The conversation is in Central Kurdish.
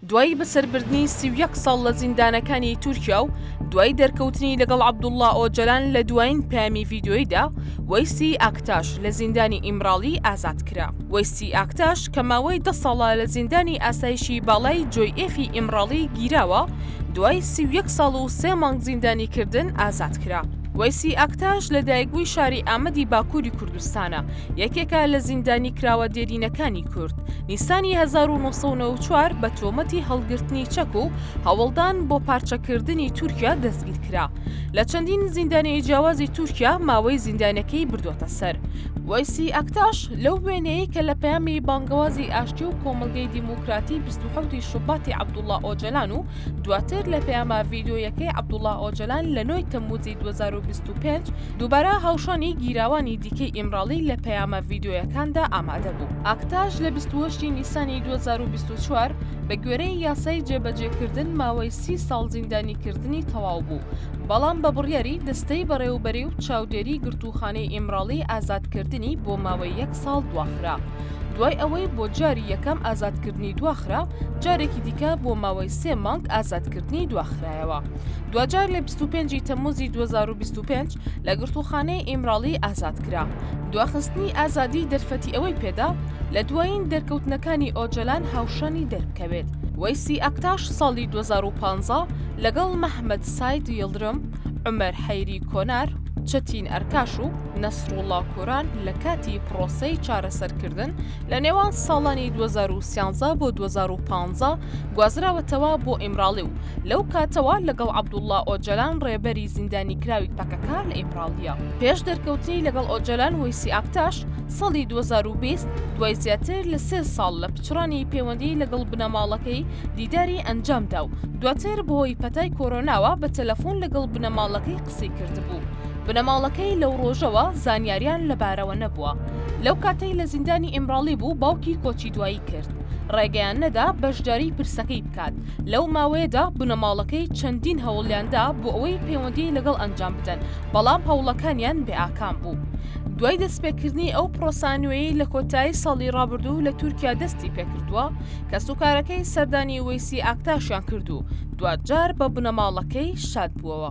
دوای بەسەربردنی سی و یەک ساڵ لە زیندانەکانی تورکیا و دوای دەرکەوتنی لەگەڵ عەبدوڵڵا ئۆجەلان لە دوایین پەیامی ڤیدیۆییدا، وەیسی ئاکتاش لە زیندانی ئیمراڵی ئازاد کرا. وەیسی ئاکتاش کە ماوەی دە ساڵە لە زیندانی ئاسایشی باڵای جۆی ئێفی ئیمراڵی گیراوە، دوای سی و یەک ساڵ و سێ مانگ زیندانیکردن ئازاد کرا. وەیسی ئاکتاش لەدایکبووی شاری ئامەدی باکووری کوردستانە، یەکێکە لە زیندانیکراوە دێرینەکانی کورد، نیسانی 1994 بە تۆمەتی هەڵگرتنی چەک و هەوڵدان بۆ پارچەکردنی تورکیا دەستگیرکرا، لە چەندین زیندانی جیاوازی تورکیا ماوەی زیندانەکەی بردووەتە سەر. وەیسی ئەکتاش لەو وێنەیەی کە لە پەیامی بانگەوازی ئاشتی و کۆمەڵگەی دیموکراتی 27 ی شوباتی عەبدوڵا ئۆجەلان و دواتر لە پەیامە ڤیدیۆییەکەی عەبدوڵا ئۆجەلان لە ٩ ی تەمموزی ٢٠٢ۊ شەست و پێنج، دووبارە هاوشانی گیراوانی دیکەی ئیمراڵی لە پەیامە ڤیدیۆیەکاندا ئامادە بوو. ئاکتاش لە بیست و هەشت ی نیسانی دوو هەزار و بیست و چوار بەگوێرەی یاسای جێبەجێکردن ماوەی سی ساڵ زیندانیکردنی تەواو بوو، بەڵام بە بڕیاری دەستەی بەڕێوەبەری و چاودێری گرتووخانەی ئیمراڵی ئازادکردنی بۆ ماوەی یەک ساڵ دواخرا. دوای ئەوەی بۆ جاری یەکەم ئازادکردنی دواخرا، جارێکی دیکە بۆ ماوەی سێ مانگ ئازادکردنی دواخرایەوە. دواجار لە بیست و پێنجی تەمموزی دوو هەزار و بیست و پێنج لە گرتووخانەی ئیمراڵی ئازاد کرا. دواخستنی ئازادی دەرفەتی ئەوەی پێدا لە دوایین دەرکەوتنەکانی ئۆجەلان هاوشانی دەربکەوێت. وەیسی ئەکتاش ساڵی دوو هەزار و پازدە لەگەڵ مەهمەت ساید یڵدرم، عومەر حەیری کۆنار، چەتین ئەرکاش و نەسروڵڵا کوران لە کاتی پڕۆسەی چارەسەرکردن لە نێوان ساڵانی دوو هەزار و سیانزە بۆ دوو هەزار و پانزە، گوازراوەتەوە بۆ ئیمراڵی و لەو کاتەوە لەگەڵ عەبدوڵڵا ئۆجەلان ڕێبەری زیندانیکراوی پەکەکە لە ئیمراڵییە. پێش دەرکەوتنی لەگەڵ ئۆجەلان وەیسی ئاکتاش ساڵی دوو هەزار و بیست دوای زیاتر لە سێ ساڵ لە پچڕانی پەیوەندی لەگەڵ بنەماڵەکەی دیداری ئەنجامدا و دواتر بەهۆی پەتای کۆرۆناوە بە تەلەفۆن لەگەڵ بنەماڵەکەی قسەی کردبوو. بنەماڵەکەی لەو ڕۆژەوە زانیاریان لەبارەوە نەبووە. لەو کاتەی لە زیندانی ئیمراڵی بوو باوکی کۆچی دوایی کرد. ڕێگەیان نەدا بەشداری پرسەکەی بکات، لەو ماوەیەدا بنەماڵەکەی چەندین هەوڵیاندا بۆ ئەوەی پەیوەندی لەگەڵ ئەنجام بدەن، بەڵام هەوڵەکانیان بێ ئاکام بوو. دوای دەستپێکردنی ئەو پرۆسە نوێیەی لە کۆتایی ساڵی ڕابردوو لە تورکیا دەستی پێکردووە، کەسوکارەکەی سەردانی وەیسی ئاکتاشیان کرد و دواجار بە بنەماڵەکەی شاد بووەوە.